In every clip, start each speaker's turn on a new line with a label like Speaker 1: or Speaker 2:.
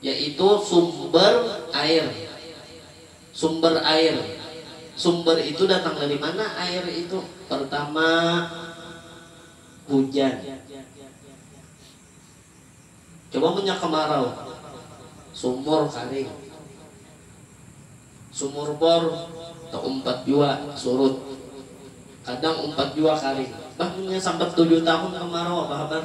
Speaker 1: yaitu sumber air, sumber air, sumber itu datang dari mana air itu, pertama hujan, coba munnya kemarau sumur karing, sumur bor teumpat jua surut, kadang umpat jua karing, bah munnya sambat tujuh tahun kemarau apa habar.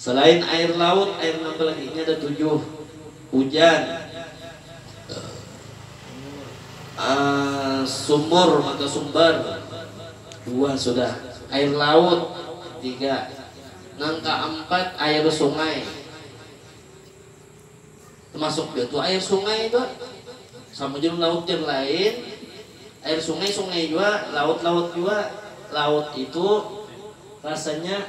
Speaker 1: Salain air laut, air napa lagi? Ini ada tujuh. Hujan, sumur maka sumber, dua sudah. Air laut, tiga. Nang kaampat air sungai. Tamasuk jua tu air sungai tu. Sama jua laut jar lain. Air sungai, sungai jua, laut, laut jua. Laut itu rasanya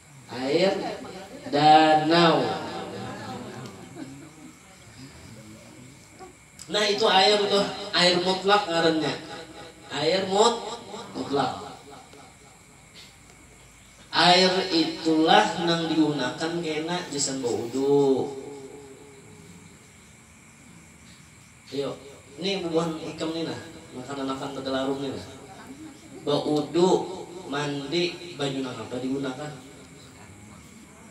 Speaker 1: Air danau. Nah itu air itu air mutlak ngarannya. Air mut mutlak. Air itulah nang digunakan kena gasan baudu. Iyo, ni bubuhan ikam ni nah, makanan-makanan tagalarung ni nah. Baudu, mandi, banyu nangapa digunakan?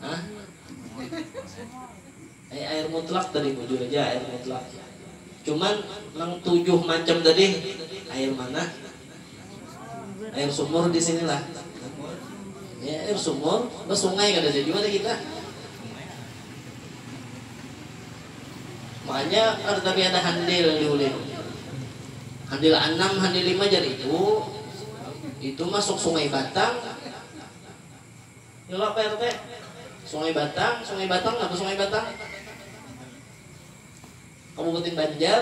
Speaker 1: Hah? Ai air mutlak tadi, bujur aja air mutlak. Cuman nang tujuh macam tadi air mana? Air sumur di sini lah. Ya, air sumur, nah sungai kada ada jua kita. Makanya ada tapi ada handil di ulin. Handil enam, handil lima jar ibu. Itu masuk sungai Batang. Nyulap Pak RT. Sungai Batang, Sungai Batang apa Sungai Batang? Kabupaten Banjar.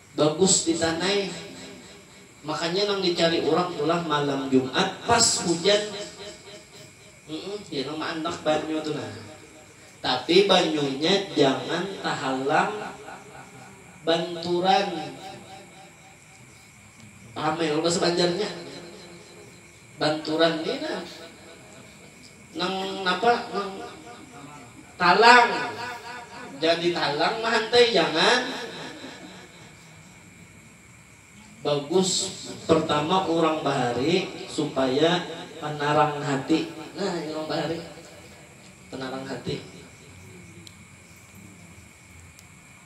Speaker 1: Bagus ditanai, makanya nang dicari urang tulah malam jumat pas hujan yang maandak banyu tu nah tapi banyunya jangan tahalang banturan ramai kalo bahasa banjarnya. Banturan ni nah nang napa nang talang jadi talang mahantai jangan bagus pertama urang bahari supaya panarang hati nah urang bahari panarang hati.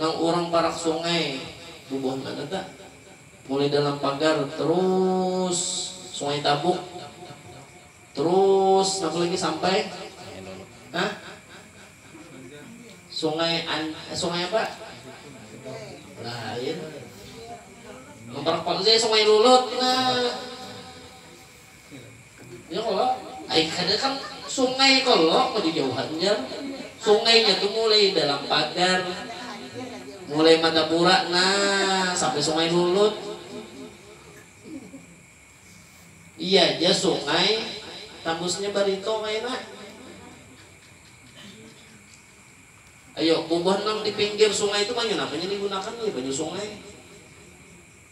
Speaker 1: Nang urang parak sungai bubuhan mana ta? Mulai dalam pagar terus sungai tabuk terus napa lagi sampai ha? sungai an, eh, sungai apa? Lain. Nang parak sungai lulut nah Ya kalo, ai kada kan sungai kalo mau dijauhan jar, sungainya tu mulai dalam pagar, mulai madapura nah sampai sungai lulut, iya ja sungai tambusnya barito kaina, ayo bubuhan nang dipinggir sungai tu banyu napa nya digunakan jar banyu sungai.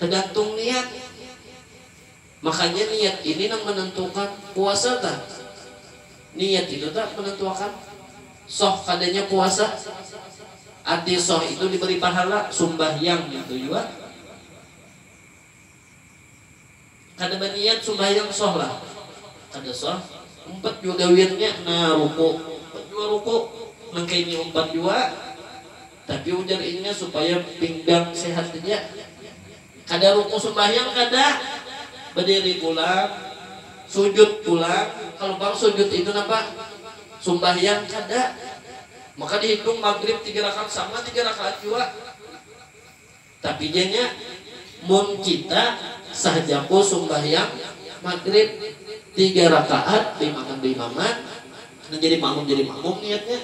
Speaker 1: Tegantung niat. Makanya niat ini nang menentukan puasa ta. Niat itu ta menentuakan soh kadanya puasa. Arti soh itu diberi pahala, sumbahyang itu jua. Kada baniat sumbayang soh lah. Kada soh. Umpat jua gawiannya. Nah ruku. Umpat jua ruku. Nang kaini umpat jua. Tapi ujar inya supaya pinggang sehat haja. Kada ruku sumbayang kada. Badiri pulang. Sujud pulang. Kalu pang sujud itu napa? Sumbayang kada. Maka dihitung magrib tiga rakaat sama tiga rakaat jua. Tapi jar nya, mun kita sah jaku sumbahyang magrib tiga rakaat baimaman baimaman, kena jadi makmum jadi makmum niatnya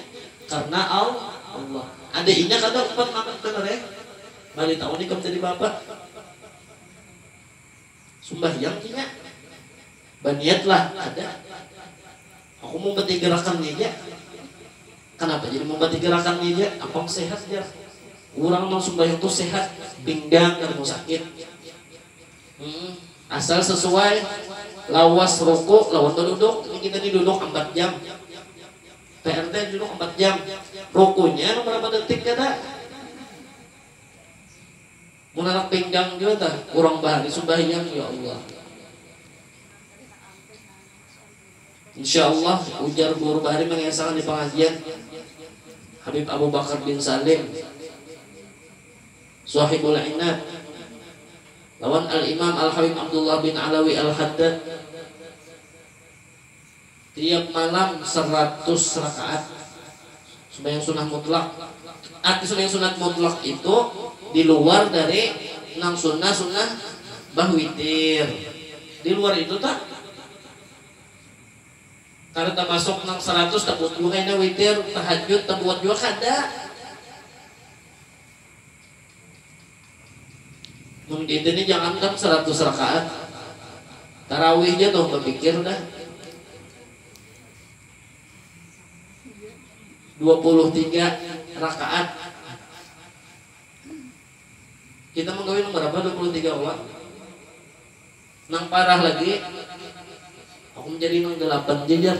Speaker 1: karna Allah. Ada inya kada umpat bangat banar eh, bari tahu ni ikam jadi bapak. Sumbahyang inya, baniatlah kada. Aku mumpati gerakannya ja. Kanapa jadi mumpati gerakannya ja? Apang sehat jar. Urang nang sumbahyang tu sehat, pinggang kada mau sakit. Asal sesuai lawas ruku lawan baduduk. Ini kita ni duduk ampat jam. PR teh duduk ampat jam. Rukunya nang barapa detik kada. Mun anak pinggang jua tah urang bahari sumbahyang ya Allah. Insya Allah ujar guru bahari mengesakan di pengajian Habib Abu Bakar bin Salim Suahibul Inab lawan Al Imam Al Habib Abdullah bin Alawi Al Haddad Tiap malam saratus rakaat sembahyang sunnah mutlak, arti sembahyang sunat mutlak itu di luar dari nang sunnah sunnah bah witir di luar itu ta kada tamasuk nang saratus tabuat jua kaina witir tahajud tabuat jua kada. Mun kita ni jangankan saratus rakaat, tarawih ja tuh bapikir dah. Dua puluh tiga rakaat, kita manggawi nang barapa dua puluh tiga kawa? Nang parah lagi, aku manjadi nang dalapan ja jar.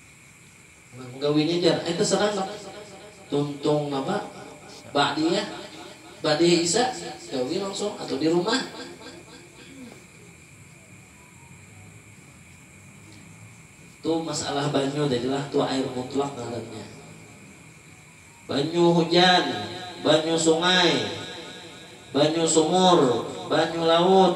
Speaker 1: Menggawinya jar ai terserah nang tuntung napa ba'diyah ba'diyah isya gawi langsung atau di rumah. Tu masalah banyu tadilah tu air mutlak ngarannya. Banyu hujan, banyu sungai, banyu sumur, banyu laut.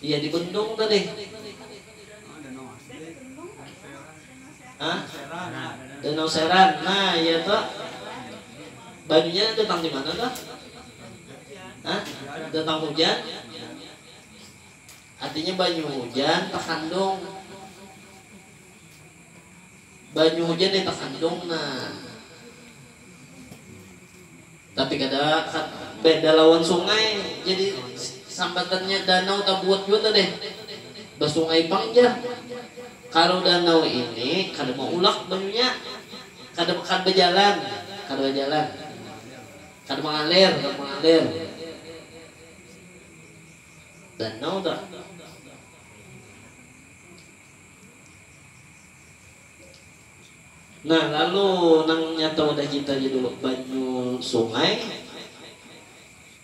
Speaker 1: Iya di bendung tadi. Hah? Danau Seran. Nah, iya tuh. Banyunya datang di mana tuh? Hah? Datang hujan. Artinya banyu hujan terkandung Banyu hujan nih takandung nah. Tapi kada beda lawan sungai jadi sambatannya danau tabuat jua tuh deh. Basungai pang jar. Kalu danau ini kada maulak banyunya. Kada kada bajalan, kada bajalan. Kada mangalir, kada mangalir. Danau tuh. Nah lalu nang nyata wadah kita ja dulu banyu sungai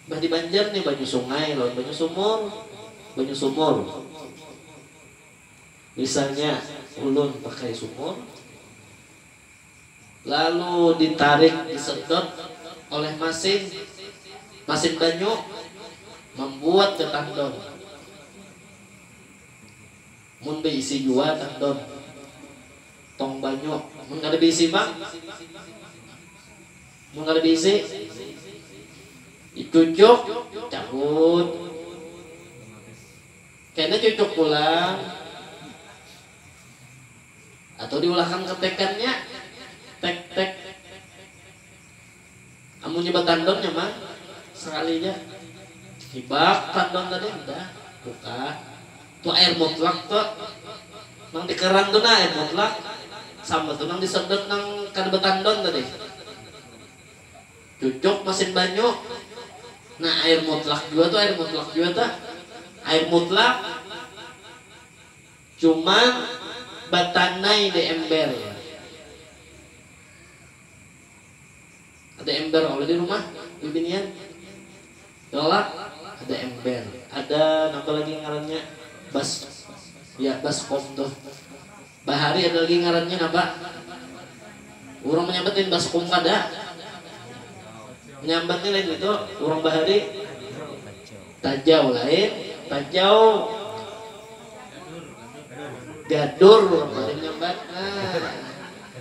Speaker 1: bah di banjar nih banyu sungai lawan banyu sumur banyu sumur misalnya ulun pakai sumur lalu ditarik disedot oleh masin masin banyu mambuat ke tandon. Mun beisi jua tang don tong banyu mun kada beisi pang mun kada beisi dicucuk cabut kena cucuk pulang atau diulahkan ketekannya tek tek. Amunnya batandon nyaman sekali ja hibak tandon tadi hudah bukan tu air mutlak tu nang di keran tu nah air mutlak sama tu nang di sedot nang kada batandon tadi cucuk masin banyu nah air mutlak jua tu air mutlak jua tu air mutlak cuman batanai di ember. Ada ember kalu di rumah bibinian? Yola, ada ember. Ada napa lagi ngarannya bas ya baskom tuh. Bahari ada lagi ngarannya napa? Urang manyambat lain baskom kada. Manyambat ni lain ngitu urang bahari. Tajau lain tajau. Gadur urang Bali manyambat nah.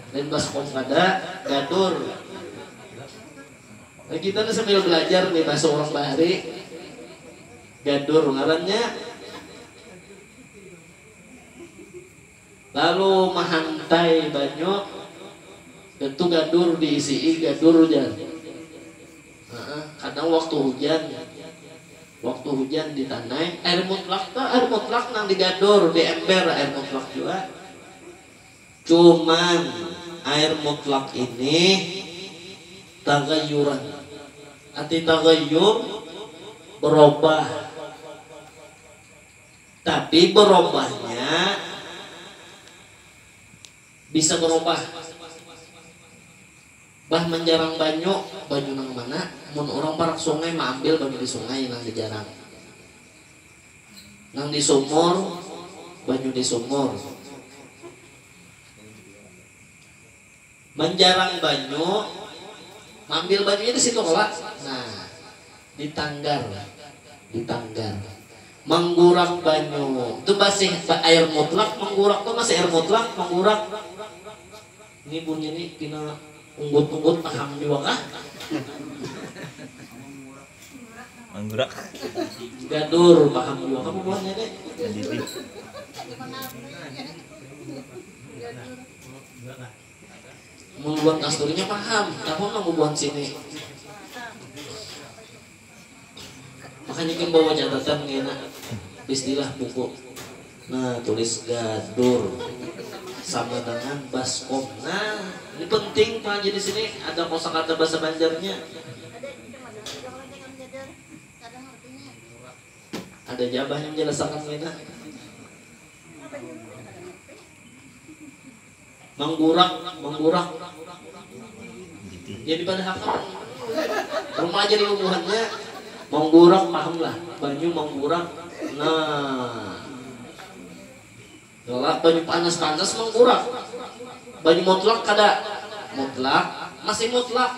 Speaker 1: Lain baskom kada, gadur. Nah kita nih sambil belajar nih bahasa urang bahari. Gadur ngarannya. Lalu mahantai banyu itu gadur diisi'i gadur jar haa kadang waktu hujan waktu hujan ditanai air mutlak tu air mutlak nang digadur di ember air mutlak jua cuman air mutlak ini tagayuran arti tagayur berubah. Tapi berobahnya bisa berobah. Bah menjarang banyu, banyu nang mana? Mun urang parak sungai maambil banyu di sungai nang dijarang. Nang di sumur, banyu di sumur. Manjarang banyu, maambil banyunya di situ kalo? Nah, di tanggar, di tanggar. Manggurak banyu, tu basih, air mutlak, manggurak tu masih air mutlak, manggurak. Ni bunyi ni pina unggut-unggut paham jua kah?
Speaker 2: Gadur,
Speaker 1: paham jua kah bubuhannya ni? Mun buhan kasturinya paham, napa pang mun buhan sini. Makanya gin bawa catatan ngena istilah buku. Nah, tulis gadur sama dengan baskom. Nah, ini penting Pak Haji di sini ada kosakata bahasa Banjarnya. Ada ja abahnya menjelasakan ngena. Manggurak, manggurak. Jadi pada hakam remaja dulu buhannya manggurak paham lah banyu manggurak nah Yolah, banyu panas-panas manggurak banyu mutlak kada mutlak masih mutlak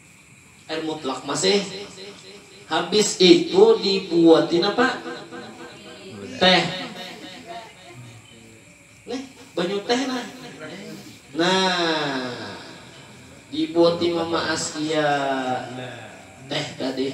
Speaker 1: Air mutlak masih habis itu dibuatin apa teh nih banyu teh nah nah dibuatin mama askia teh tadi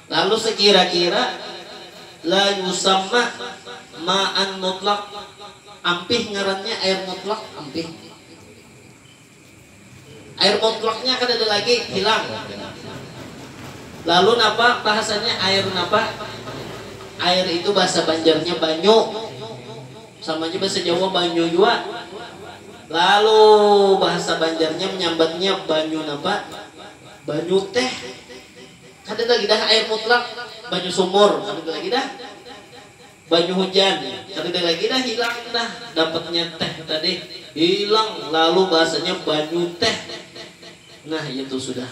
Speaker 1: Lalu sakira-kira la yusamma ma'an mutlaq, ampih ngarannya air mutlaq, ampih. Air mutlaqnya kadada lagi, hilang. Lalu napa bahasanya air napa? Air itu bahasa Banjarnya banyu, sama ja bahasa Jawa banyu jua. Lalu bahasa Banjarnya manyambatnya banyu napa? Banyu teh. Kada lagi dah air mutlak, banyu sumur kadada lagi dah, banyu hujan kadada lagi dah hilang dah dapatnya teh tadi hilang lalu bahasanya banyu teh nah itu sudah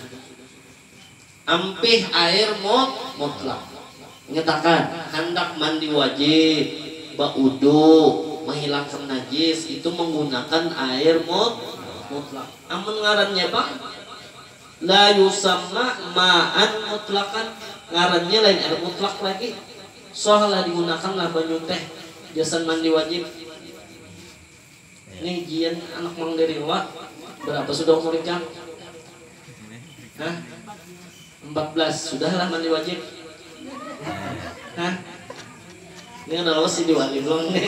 Speaker 1: ampih air mut mutlak ingat akan handak mandi wajib baudu mahilangkan najis itu menggunakan air mut mutlak amun ngarannya pang. La yusamma ma'an mutlaqan, ngarannya lain air mutlak lagi. Shah lah digunakan lah banyu teh gasan mandi wajib. Nih jian anak mang liriwa, berapa sudah umur ikam? Hah? Empat belas, sudah lah mandi wajib. Hah? Nih kada lawas jadi wali pulang nih.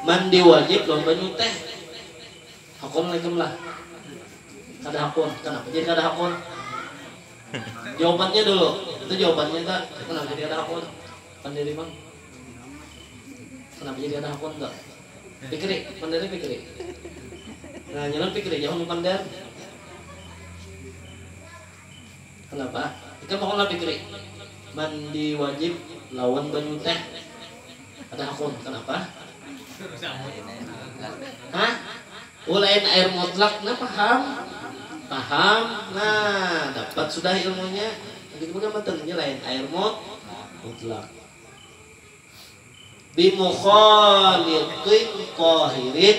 Speaker 1: Mandi wajib lawan banyu teh. Hakun lah ikam lah. Kada hakun. Kenapa jadi kada hakun? Jawabannya dulu. Itu jawabannya tak? Kenapa jadi kada hakun? Pandiri bang. Kenapa jadi kada hakun tak? Pikiri, pandiri pikiri. Nah, nyaman pikiri, jangan pandar. Kenapa ikam maolah pikri mandi wajib lawan banyu teh? Ada hakun, kenapa? Hah? Oh lain air mutlak nah paham? Paham? Nah dapat sudah ilmunya. Begitu pun matan ini lain air mut mutlak. Bimukhalitin tahirin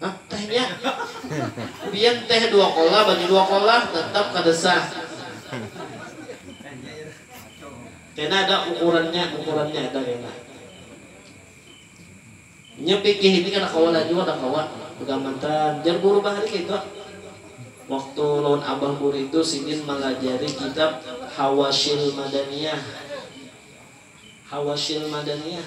Speaker 1: Hah teh nya? Pian teh dua kolah bagi dua kolah tetap kada sah. Kena ada ukurannya, ukurannya ada kena. Nya fikih ini kada kawa laju kada kawa begamantan. Jar guru bahari keitu. Waktu lawan abah guru itu sidin malajari kitab Hawasyil Madaniyah. Hawasyil Madaniyah.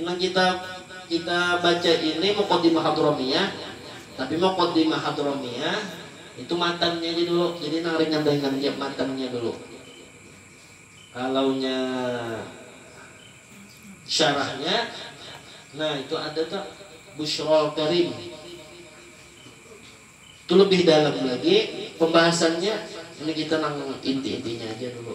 Speaker 1: Nang kita kita baca ini muqaddimah hadramiyah, tapi muqaddimah hadramiyah itu matannya ja dulu, jadi nang ringan-ringan ja matannya dulu. Kalaunya syarahnya nah itu ada tu Busyrol Karim tu lebih dalam lagi pembahasannya, ini kita nang inti-intinya aja dulu.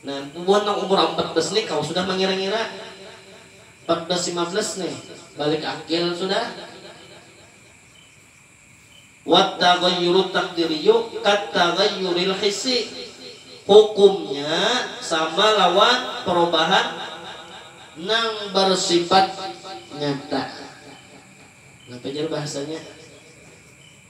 Speaker 1: Nah, bubuhan nang umur ampat belas ni kawa sudah mangira-ngira. Empat belas, lima belas ni balik akil sudah. Wat-taghayyurut taqdiriyyu kat-taghayyuril hissi, hukumnya sama lawan perubahan nang bersifat nyata. Napa jar bahasanya?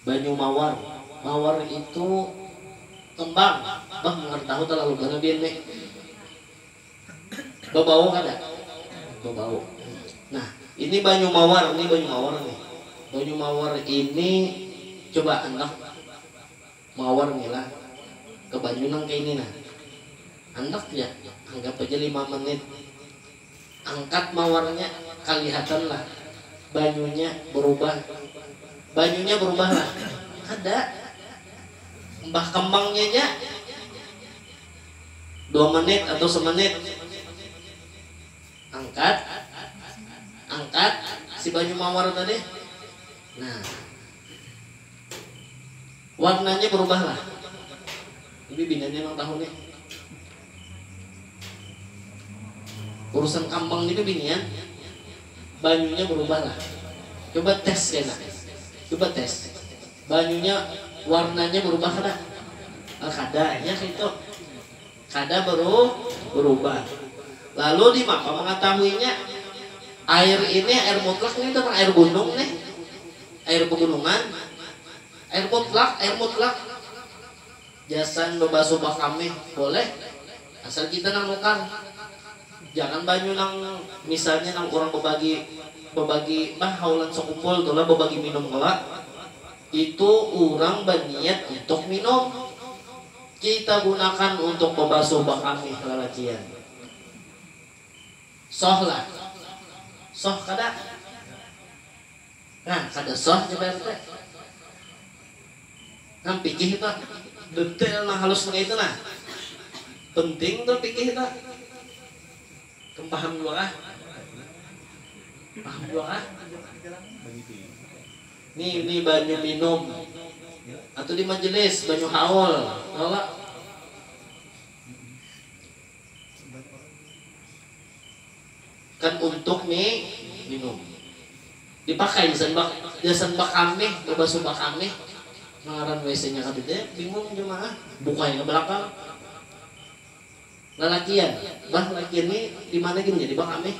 Speaker 1: Banyu mawar, mawar itu kembang bah mun kada tahu talalu balabian ni bebau kada bebau nah ini banyu mawar ni banyu mawar ni banyu mawar ini coba andak mawar ni lah ke banyu nang kaini nah andak ja anggap aja lima menit. Angkat mawarnya, kalihatanlah banyunya berubah. Banyunya berubahlah? Kada. Mbah kembangnya ja dua menit atau semenit. Angkat, angkat si banyu mawar tadi. Nah. Warnanya berubahlah? Ini biniannya nang tahu ni. Urusan kambang ni tu binian banyunya berubah lah coba test kena coba test banyunya warnanya berubah kada nah kada inya kaitu kada beru berubah lalu dimapa mengetahuinya air ini air mutlak ni tentang air gunung nih air pegunungan air mutlak air mutlak. Gasan bebasuh bakamih boleh, asal kita nang nukar. Jangan banyu nang misalnya nang urang bebagi bebagi bah haulan sekumpul tu lah bebagi minum kalo. Itu urang baniat untuk minum. Kita gunakan untuk bebasuh bakamih lalacian. Soh lah. Soh kada? Nah kada soh jar baya aku teh. Nang pikih kita detail nang halus nang kaitu nah. Penting tu pikih kita. Kam paham jua kah? Paham jua kah? Ni ni banyu minum atau di majelis banyu haul kalo. Kan untuk ni minum. Dipakai gasan bak gasan bakamih, babasuh bakamih. Nang ngaran WC nya kadada ya, bingung jua ma ah. Buka aja ka balakang. Lalakian, bah lakian ni dimana gin jadi bakamih.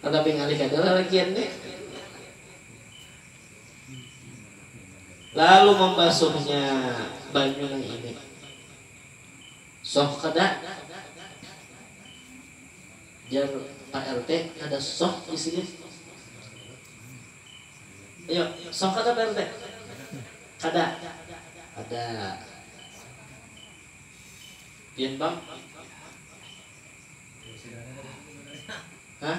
Speaker 1: Kada pingalih kada lalakian ni. Lalu mambasuhnya banyu nang ini. Soh kada? Jar pak RT kada soh disini. Ayo soh kada pak RT? Kada. Kada. Pian bang? Hah?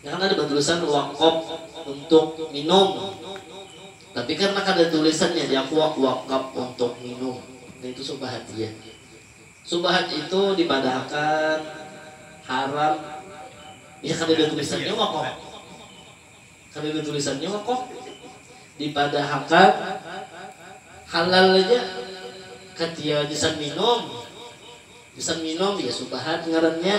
Speaker 1: Nya kan ada batulisan wakop untuk minum, tapi karna kada tulisan jadi aku wakap untuk minum nah itu subahat jia. Subahat itu dipadahakan haram ya kada ada tulisannya wakop kada ada tulisannya wakop dipadahakan halal aja katia gasan minum gasan minum ya subahat ngarannya.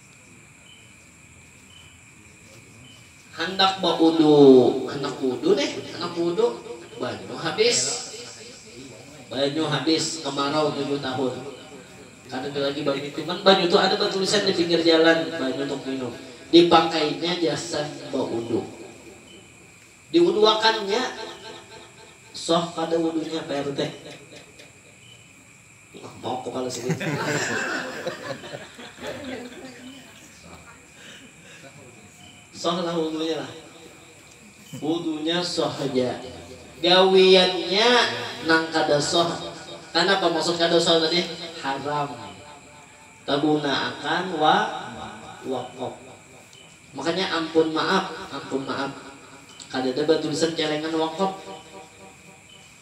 Speaker 1: Handak baudu, handak budu nih, handak budu, banyu habis. Banyu habis, kemarau tujuh tahun. Kada ada lagi banyu cuman banyu tu ada batulisan di pinggir jalan, banyu untuk minum. Dipakainya jasa baudu. Diuduakannya soh kada wudunya, PRT. Lambap kepala sidin. Sah lah wudunya lah. Wudunya sah haja. Gawiannya nang kada sah. Kanapa maksud kada sah tadi? Haram. Tagunaakan wa wakop. Makanya ampun maap, ampun maap. Kadada batulisan celengan wakop.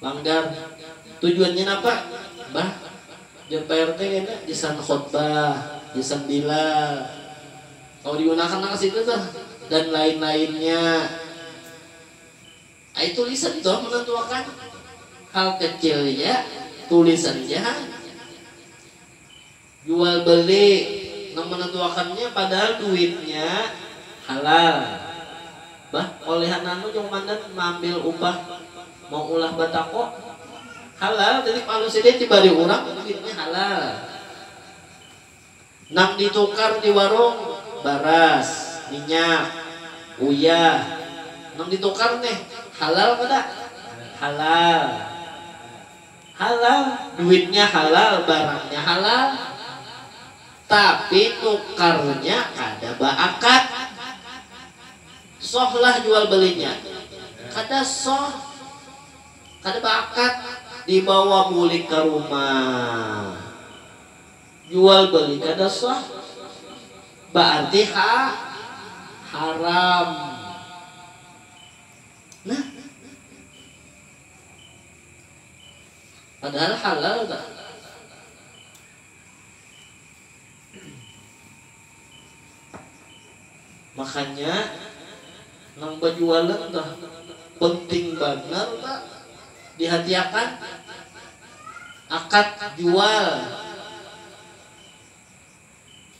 Speaker 1: Langgar. Tujuannya napa? Bah, jar prt kena gasan khotbah, gasan bilal. Kawa digunakan nang kasitu tuh. Dan lain-lainnya. Ai tulisan tuh menentuakan. Hal kecil ja, tulisan ja ha. Jual beli nang menentuakannya padahal duitnya halal bah olehan nanu jua komandan maambil upah maulah batako halal titip alus ja deh dibari urang duitnya halal nang ditukar di warung baras minyak uyah nang ditukar neh halal kada halal. Halal, duitnya halal, barangnya halal, tapi nukarnya kada baakad. Soh lah jual belinya, kada soh, kada baakad. Dibawa bulik ka rumah, jual beli kada soh, baarti ha haram. Nah. Padahal halal bah. Makanya nang bajualan tuh penting banar ba dihatiakan akad jual.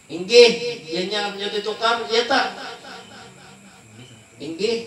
Speaker 1: Inggih, ianya nyuti tukar iya tah? Inggih.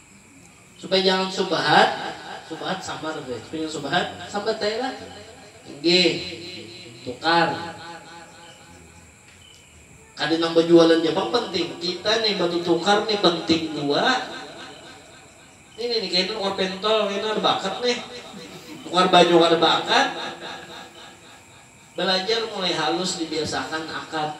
Speaker 1: Supaya jangan subahat, subahat sambar be, supaya jangan subahat sambat ai lah. Inggih, tukar. Kada nang bajualan ja pang penting, kita nih batutukar nih penting jua. Ini nih kaina nukar pentol, kaina kada baakat nih. Nukar baju kada baakat. Balajar mulai halus dibiasakan akat.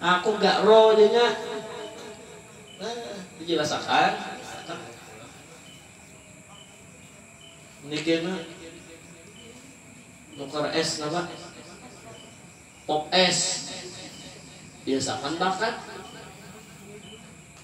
Speaker 1: Aku ga ro ja nya. Nah, dijelas akan. Ini kena nukar es napa? Pop es. Biasakan bakat.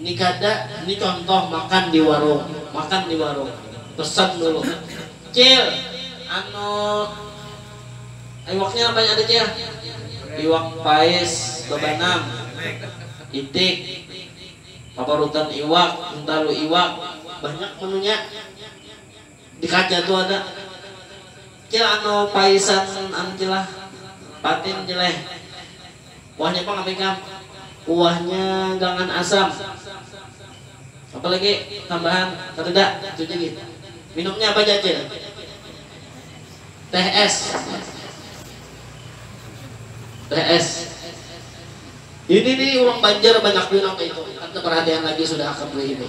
Speaker 1: Ini kada, ini contoh makan di warung, makan di warung, pesen dulu, cil, anu iwaknya apa nya ada cil, iwak pais babanam, itik, paparutan iwak, hintalu iwak, banyak menunya. Di kaca tu ada. Cil anu paisan anu cil lah. Patin cil eh. Kuahnya pang apa ikam? Kuahnya gangan asam. Apa lagi tambahan? Kadada, itu ja gin. Minumnya apa ja cil? Teh es. Teh es. Ini ni urang banjar banyak jua nang kaya itu. Kada taparhatian lagi sudah hakam kaya ini.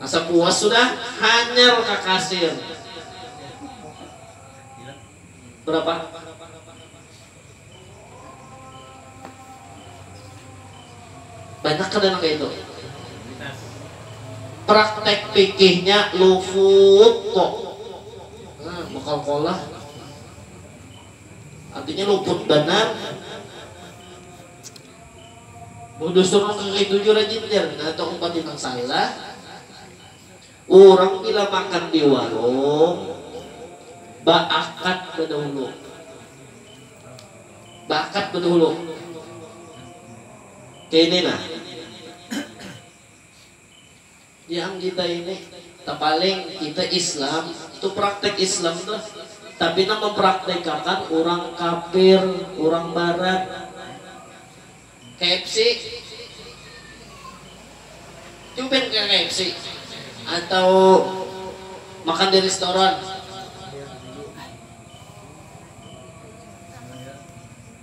Speaker 1: Asa puas sudah, hanyar ka kasir. Berapa? Banyak kada nang kaitu? Praktek pikihnya lufut ko. Nah, bekalkolah. Artinya luput banar. Mun dusun nang kakayitu jua rajin jar, nah itu umpati nang salah, urang bila makan di warung baakat badahulu, baakat badahulu kaya ini nah. Yang kita ini tapaling kita islam tu praktek islam tu tapi nang mempraktekakan urang kafir urang barat kfc coba pian ke kfc atau makan di restoran.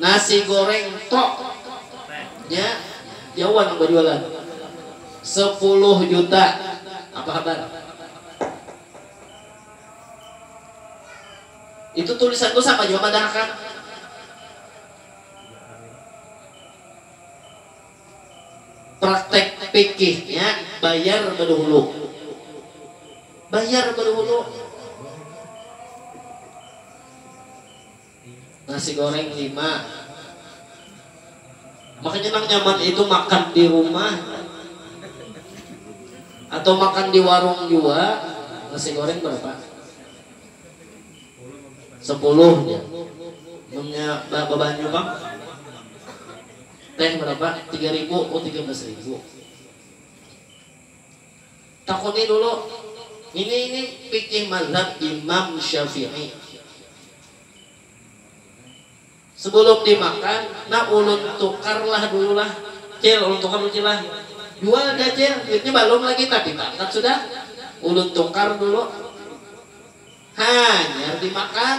Speaker 1: Nasi goreng tok nya jawa nang bajualan sepuluh juta apa habar itu tulisan ku sama jua madahakan praktek pikih nya bayar baduhulu bayar baduhulu. Nasi goreng lima. Makanya nang nyaman itu makan di rumah atau makan di warung jua. Nasi goreng berapa? Sepuluh jar. Munnya ba babanyu pang? Teh berapa? Tiga ribu, oh tiga belas ribu. Takuni dulu, ini ini fikih mazhab Imam Syafi'i. Sebelum dimakan, nah ulun tukarlah dululah. Cil, ulun tukar dulu Cil lah. Jual ja Cil, duitnya balum lagi tapi bakat sudah. Ulun tukar dulu. Hanyar dimakan.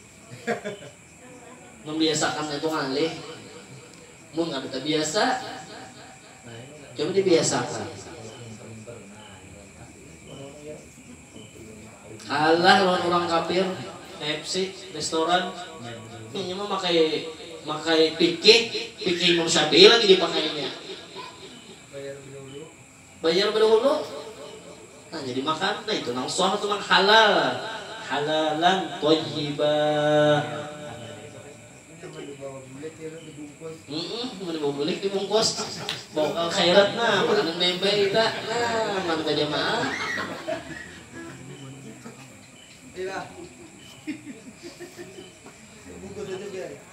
Speaker 1: Membiasakan nang itu ngalih, mun kada tabiasa coba dibiasakan. Kalah lawan urang kafir, KFC, restoran, inya mamakai makai fikih, fikih Imam Syafi'i lagi dipakainya. Banjar badahulu nah jadi makan nah itu nang suah tu nang halal halalan thayyibaa. Humm mun dibawa bulik dibungkus bawa ka khairat nah makanan meme kita nah mana bajamaah.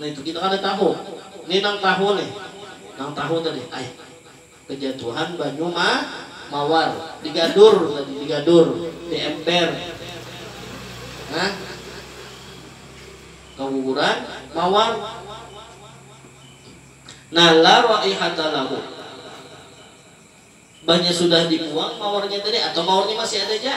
Speaker 1: Nah itu kita kada tahu ni nang tahu nih nang tahu tadi ai kejatuhan banyu ma mawar di gadur tadi di gadur di ember nah kaguguran mawar nah la raihata lahu banya sudah di buang mawarnya tadi atau mawarnya masih ada ja.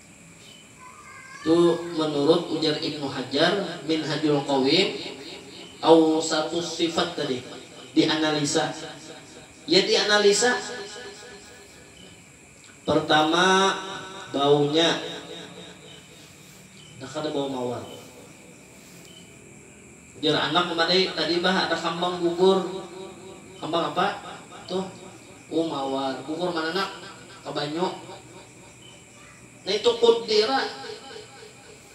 Speaker 1: Tu menurut ujar Ibnu Hajar, Minhajul Qawim, Awsatus Shifat tadi dianalisa. Ya dianalisa, pertama baunya, dah kada bau mawar. Ujar anak memadai, tadi bah ada kambang gugur, kambang apa tuh? Uh mawar, gugur mana nak? Ka banyu. Nitu kudira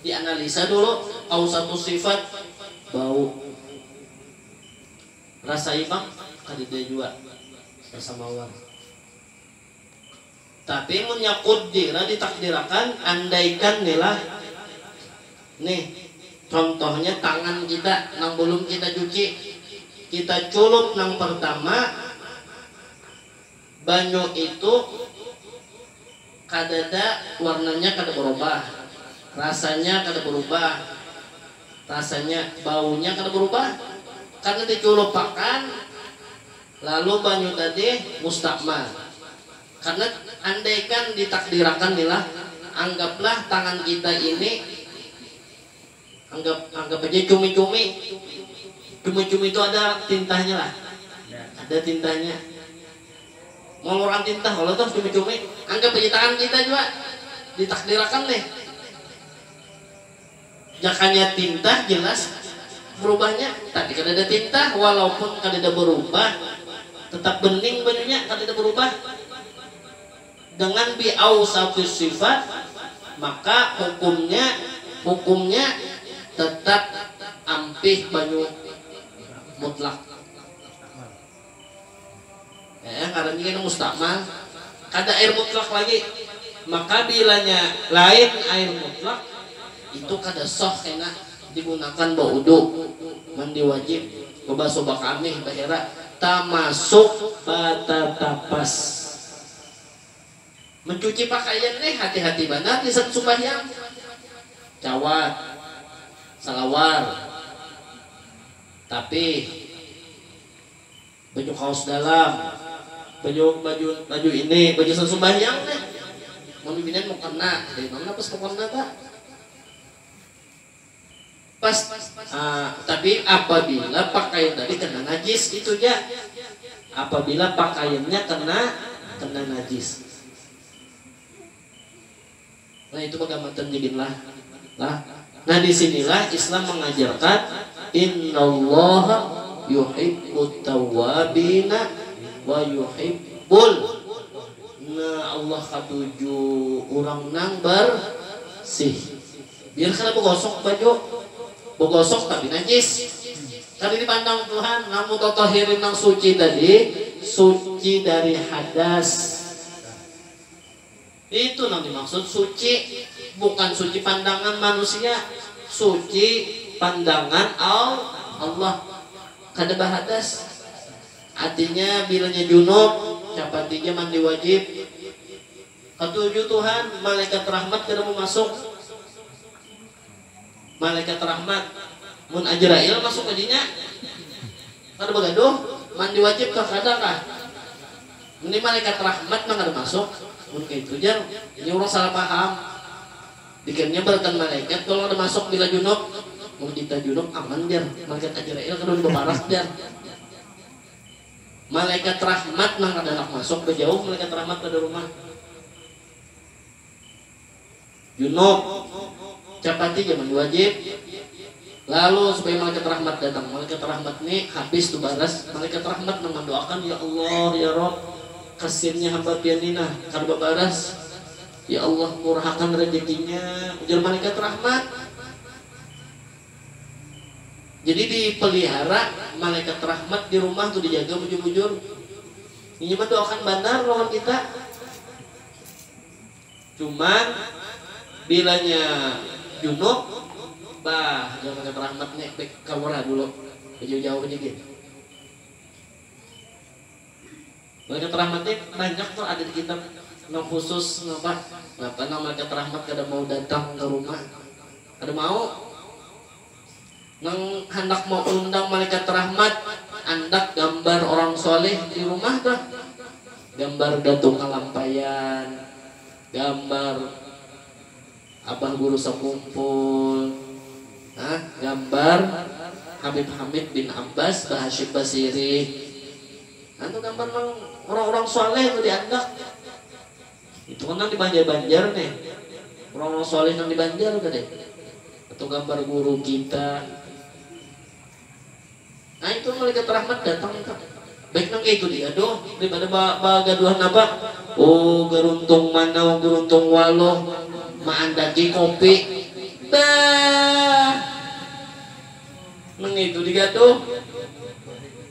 Speaker 1: di analisa dulu au satu sifat bau rasa imbang kadada jua rasa mawar tapi munnya kudira di takdirakan andaikan ni lah nih contohnya tangan kita nang belum kita cuci kita culup nang pertama Banyu itu kadada warnanya kada barubah, rasanya kada barubah, rasanya, baunya kada barubah karna diculupakan lalu banyu tadi mustakmal. Karna andaikan ditakdirakan ni lah, anggaplah tangan kita ini. Anggap anggap aja cumi-cumi. Cumi-cumi tu ada tintahnya lah. Ada tintahnya. Maluran tintah kalo tuh cumi-cumi. Anggap aja tangan kita jua ditakdirakan nih. Jakanya tintah jelas berubahnya. Tapi kadada tintah walaupun kadada berubah tetap bening bajunya kadada berubah. Dengan bi awsafis sifat, maka hukumnya hukumnya tetap ampih banyu mutlak. Ea ngarannya kena mustakmal. Kada air mutlak lagi. Maka bilanya lain air mutlak, itu kada sah kena digunakan baudu, mandi wajib, bebasuh bakamih, bahera, tamasuk batatapas. Mencuci pakaian ne hati-hati banar gasan sumbahyang. Cawat, salawar, tapi baju kaos dalam, baju baju baju ini baju gasan sumbahyang ne mun bibinian mukena jar imam ne pas mukena ta. Pas, a, tapi apabila pakaian tadi kena najis, itu ja. Apabila pakaiannya kena kena najis. Nah, itu baga matan jidin lah. Lah. Nah, di sinilah Islam mengajarkan Innallaha yuhibbut tawwabina wa yuhibbul Nah, Allah katuju urang nang barsih. Biar kada bagosok baju, bagosok tapi najis. Kada dipandang Tuhan nang mutatahirin nang suci tadi suci dari hadas. Itu nang dimaksud suci, bukan suci pandangan manusia, suci pandangan Allah. Kada bahadas. Artinya bilanya junub capati ja mandi wajib. Katuju Tuhan, malaikat rahmat kada mau masuk. Malaikat rahmat, mun Ajrail masuk ka dinya, kada bagaduh, mandi wajib kah kada kah. Ini malaikat rahmat nang kada masuk, mun kaitu jar, ini urang salah paham. Dikiranya baratan malaikat kalo kada masuk bila junub. Mun kita junub aman jar, malaikat Ajrail kada wani baparas jar. Malaikat Rahmat nang kada handak masuk, bajauh Malaikat Rahmat pada rumah. Junub, capati jar mandi wajib. Lalu supaya Malaikat Rahmat datang. Malaikat Rahmat ni habis tu baras, Malaikat Rahmat nang mandoakan, Ya Allah, Ya Rabb, kasiannya hamba Pian ni nah, kada babaras. Ya Allah, murahakan rajakinya, ujar Malaikat Rahmat. Jadi di pelihara malaikat rahmat di rumah tu dijaga bujur bujur. Inya mandoakan banar lawan kita. Cuman bilanya junub bah jar malaikat rahmat nya baik kaluar ha dulu bajauh jauh aja gin. Malaikat Rahmat ni banyak tu ada di kitab nang khusus ngapa napa nang Malaikat Rahmat kada mau datang ka rumah kada mau nang handak maundang Malaikat Rahmat andak gambar orang soleh di rumah tuh gambar Datu Kalampayan gambar Abah Guru Sakumpul nah gambar Habib Hamid bin Abbas Bahashim Basirih Nang gambar nang urang-urang shaleh tu diandak. Itu kan nang di banjar-banjar ne. Urang-urang shaleh nang di banjar tadi. Atau gambar guru kita. Nah itu malaikat rahmat datang itu. Baik nang kaitu dia doh daripada ba bagaduhan napa. Oh garuntung manau garuntung waloh maandaki kopi. Bah. Nang kaitu digaduh.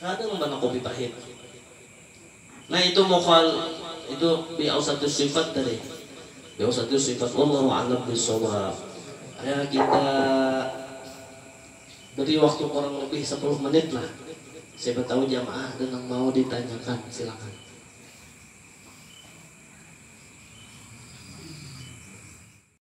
Speaker 1: Kada pang pernah kopi pahit. Nah itu mukhal itu biausatu sifat tadi biausatu sifat wallahu alam bisawab ya kita beri waktu kurang lebih sapuluh menit lah siapa tahu jamaah ada nang mau ditanyakan silakan.